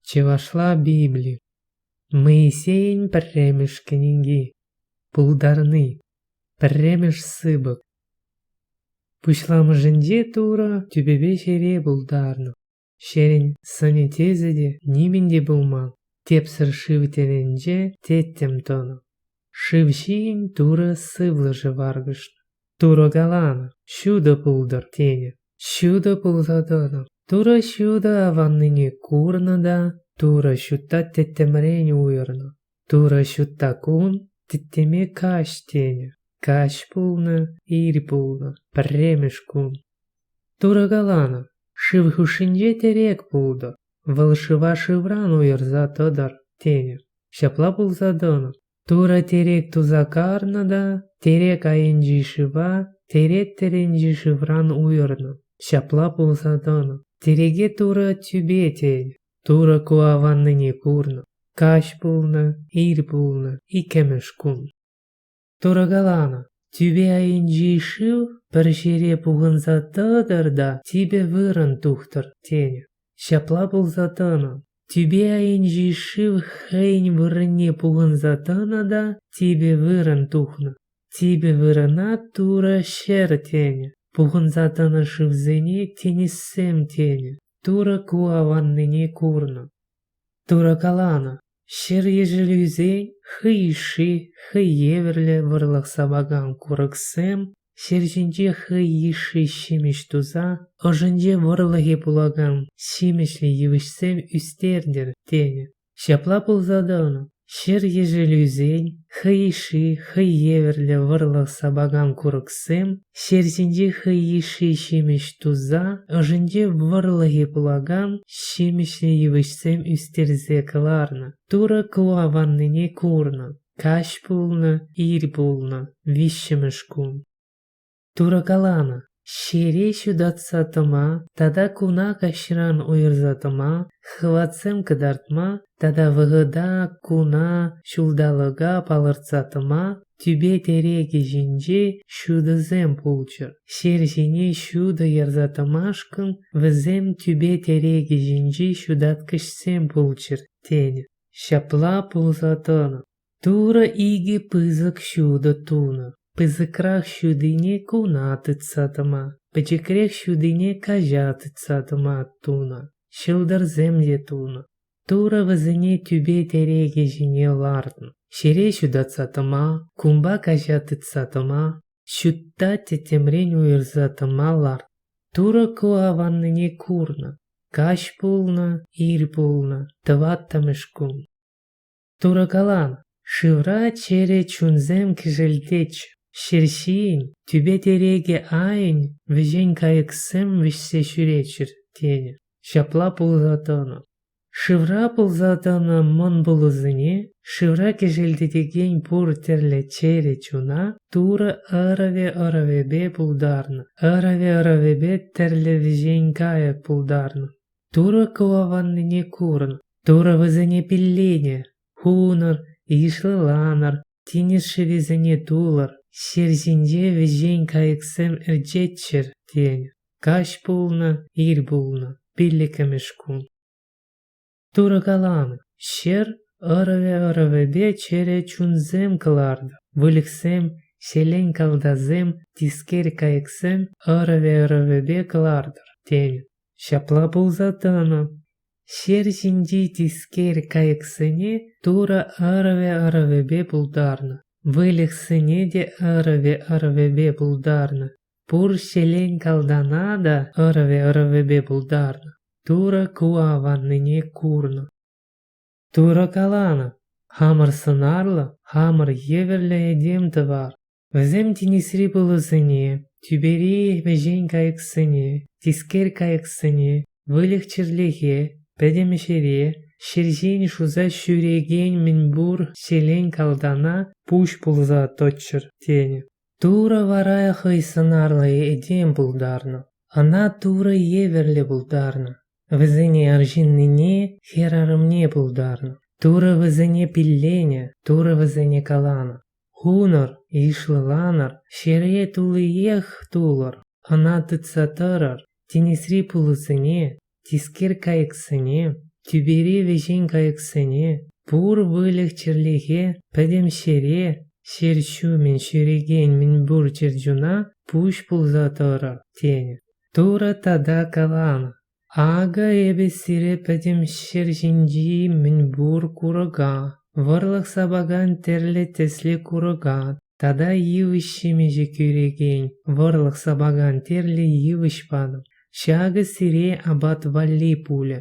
Чӑвашла Библи Моисейӗн пӗрремӗш кӗнеки Пултарни пӗрремӗш сыпӑк Пуҫламӑшӗнче Турӑ тӳпепе ҫӗре пултарнӑ ҫӗрӗн сӑнӗ тӗсӗ те нимӗн те пулман тепсӗр шыв тӗлӗнче тӗттӗм тӑнӑ. Шыв ҫийӗн Турӑ сывлӑшӗ варкӑшнӑ. Турӑ каланӑ, ҫутӑ пултӑр тенӗ. Ҫутӑ пулса тӑнӑ. Турӑ ҫутӑ аваннине курнӑ та Турӑ ҫутта тӗттӗмрен уйӑрнӑ. Турӑ ҫутта кун тӗттӗме каҫ тенӗ. Каҫ пулнӑ, ир пулнӑ, пӗрремӗш кун. Турӑ каланӑ, шыв хушшинче тӗрек пултӑр, вӑл шыва шывран уйӑрса тӑтӑр тенӗ. Ҫапла пулса тӑнӑ. Турӑ тирек туса карнӑ та тирек айӗнчи шыва тирек тӗрӗнчи шывран уйӑрнӑ. Ҫапла пулса тӑнӑ. Тиреке Турӑ тӳпе тенӗ. Турӑ ку аваннине курнӑ. Каҫ пулнӑ, ир пулнӑ, иккӗмӗш кун. Турӑ каланӑ, тӳпе айӗнчи шыв пӗр ҫӗре пухӑнса тӑтӑр та типӗ вырӑн тухтӑр, тенӗ. Ҫапла пулса тӑнӑ. Тӳпе айӗнчи шыв хӑйӗн вырӑнне пухӑнса тӑнӑ та типӗ вырӑн тухнӑ. Типӗ вырӑна Турӑ ҫӗр тенӗ. Пухӑнса тӑнӑ шывсене тинӗссем тенӗ. Турӑ ку аваннине курнӑ. Турӑ каланӑ: ҫӗр ешӗлӳсен хӑй йышши, хӑй евӗрлӗ вӑрлӑх сапакан курӑксем ҫӗр ҫинче хӑй йышши ҫимӗҫ туса ӑшӗнче вӑрлӑхе пулакан ҫимӗҫлӗ йывӑҫсем ӳстертӗр тенӗ. Ҫапла пулса тӑнӑ. Ҫӗр ешӗлӳсен хӑй йышши хӑй евӗрлӗ вӑрлӑх сапакан курӑксем ҫер ҫинчи хӑй йышши ҫимӗҫ туса ӑшӗнче вӑрлӑхе пулакан ҫимӗҫлӗ йывӑҫсем ӳстерсе кӑларнӑ, турӑ кӑва ваннине курнӑ, каҫ пулнӑ, ир пулнӑ, виҫҫӗмӗш кун. Турӑ каланӑ, ҫире ҫутатса тӑма тата куна каҫран уйӑрса тӑма, хӑватсем кӑтартма тата вӑхӑта куна ҫулталӑка палӑртса тӑма тӳпе тӗрекӗ ҫинчи ҫутӑсем пулччӑр. Ҫер ҫине ҫутӑ ярса тӑмашкӑн вӗсем тӳпе тӗрекӗ ҫинчи ҫутаткӑҫсем пулччӑр, тенӗ. Ҫапла пулса тӑнӑ. Турӑ икӗ пысӑк ҫутӑ тунӑ. Пысӑкрах ҫутине куна тытса тӑма, пӗчӗкрех ҫутине каҫа тытса тӑма тунӑ. Ҫӑлтӑрсем те тунӑ. Турӑ вӗсене тӳпе-тӗрекӗ ҫине лартнӑ. Ҫӗре ҫутатса тӑма, кунпа каҫа тытса тӑма, ҫутта тӗттӗмрен уйӑрса тӑма лартнӑ. Турӑ ку аваннине курнӑ. Каҫ пулнӑ, ир пулнӑ, тӑваттӑмӗш кун. Турӑ калан, шывра чӗрӗ чунсем кӗшӗлтеч, ҫерҫийӗн, тӳпе-тирекӗ айӗн вӗҫен кайӑксем вӗҫсе ҫӳреччӗр, тенӗ. Ҫапла пулса тӑнӑ. Шывра пулса тӑнӑ мӑн пулӑсене, шывра кӗшӗлтетекен пур тӗрлӗ чӗрӗ чуна Турӑ ӑрӑвӗ-ӑрӑвӗпе пултарнӑ, ӑрӑвӗ-ӑрӑвӗпе тӗрлӗ вӗҫен кайӑк пултарнӑ. Турӑ кӑваканнине курӑн, Турӑ вӗсене пилленӗ, хунӑр, йышлӑланӑр, тинӗс шӗвисене тулӑр, ҫер ҫинче вӗҫен кайӑксем ӗрчеччӗр, тенӗ. Каҫ пулнӑ, ир пулнӑ, пиллӗкмӗш кун. Турӑ каланӑ: Ҫӗр ӑрӑвӗ-ӑрӑвӗпе чӗрӗ чунсем кӑлартӑр, выльӑхсем, ҫӗлен калтасем, тискер кайӑксем ӑрӑвӗ-ӑрӑвӗпе кӑлартӑр, тенӗ. Ҫапла пулса тӑнӑ. Ҫер ҫинчи тискер кайӑксене Турӑ ӑрӑвӗ-ӑрӑвӗпе пултарнӑ. Выльӑхсене те ӑрӑвӗ-ӑрӑвӗпе пултарнӑ. Пур ҫӗлен калтана та ӑрӑвӗ-ӑрӑвӗпе пултарнӑ. Турӑ ку аваннине курнӑ. Турӑ каланӑ: хамӑр сӑнарлӑ, хамӑр евӗрлӗ этем тӑвар. Вӗсем тинӗсри пулӑсене, тӳпери вӗҫен кайӑксене, тискер кайӑксене, выльӑх-чӗрлӗхе, пӗтӗм ӗҫере, ҫӗр ҫин шуса ҫӳрекен мӗнпур ҫӗлен калтана пуҫ пулса тӑччӑр тенӗ. Турӑ вара хӑй сӑнарлӑ этем пултарнӑ. Ӑна Турӑ евӗрлӗ пултарнӑ. Вӗсене арҫыннине, хӗрарӑмне пултарнӑ. Турӑ вӗсене пилленӗ, Турӑ вӗсене каланӑ. Хунӑр, йышлӑланӑр, ҫӗре туллиех тулӑр, ӑна тытса тӑрӑр, тинӗсри пулӑсене, тискер кайӑксене, тӳпери вӗҫен кайӑксене, пур выльӑх-чӗрлӗхе пӗтӗм ҫӗре, ҫӗр ҫумӗн ҫӳрекен мӗнпур чӗрчуна пуҫ пулса тӑрӑр, тенӗ. Турӑ тата каланӑ: Акӑ эпӗ сире пӗтӗм ҫӗр ҫинчи мӗнпур курӑка, вӑрлӑх сапакан тӗрлӗ тӗслӗ курӑка тата йывӑҫ ҫимӗҫӗ кӳрекен вӑрлӑх сапакан тӗрлӗ йывӑҫ патӑм. Ҫакӑ сире апат валли пулӗ.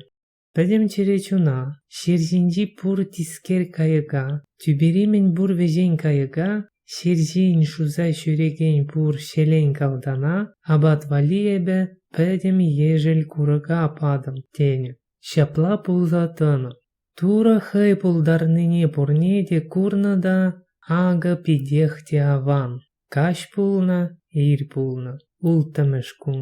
Пӗтӗм чӗре чуна, ҫӗр ҫинчи пур тискер кайӑка, тӳпери мӗнпур вӗҫен кайӑка Ҫыр ҫийӗн шуса ҫӳрекен пур ҫӗлен-калтана апат валли эпӗ пӗтӗм ешӗл курӑка патӑм, тенӗ. Ҫапла пулса тӑнӑ. Турӑ хӑй пултарнине пурне те курнӑ та акӑ питех те аван. Каҫ пулнӑ, ир пулнӑ, улттӑмӗш кун.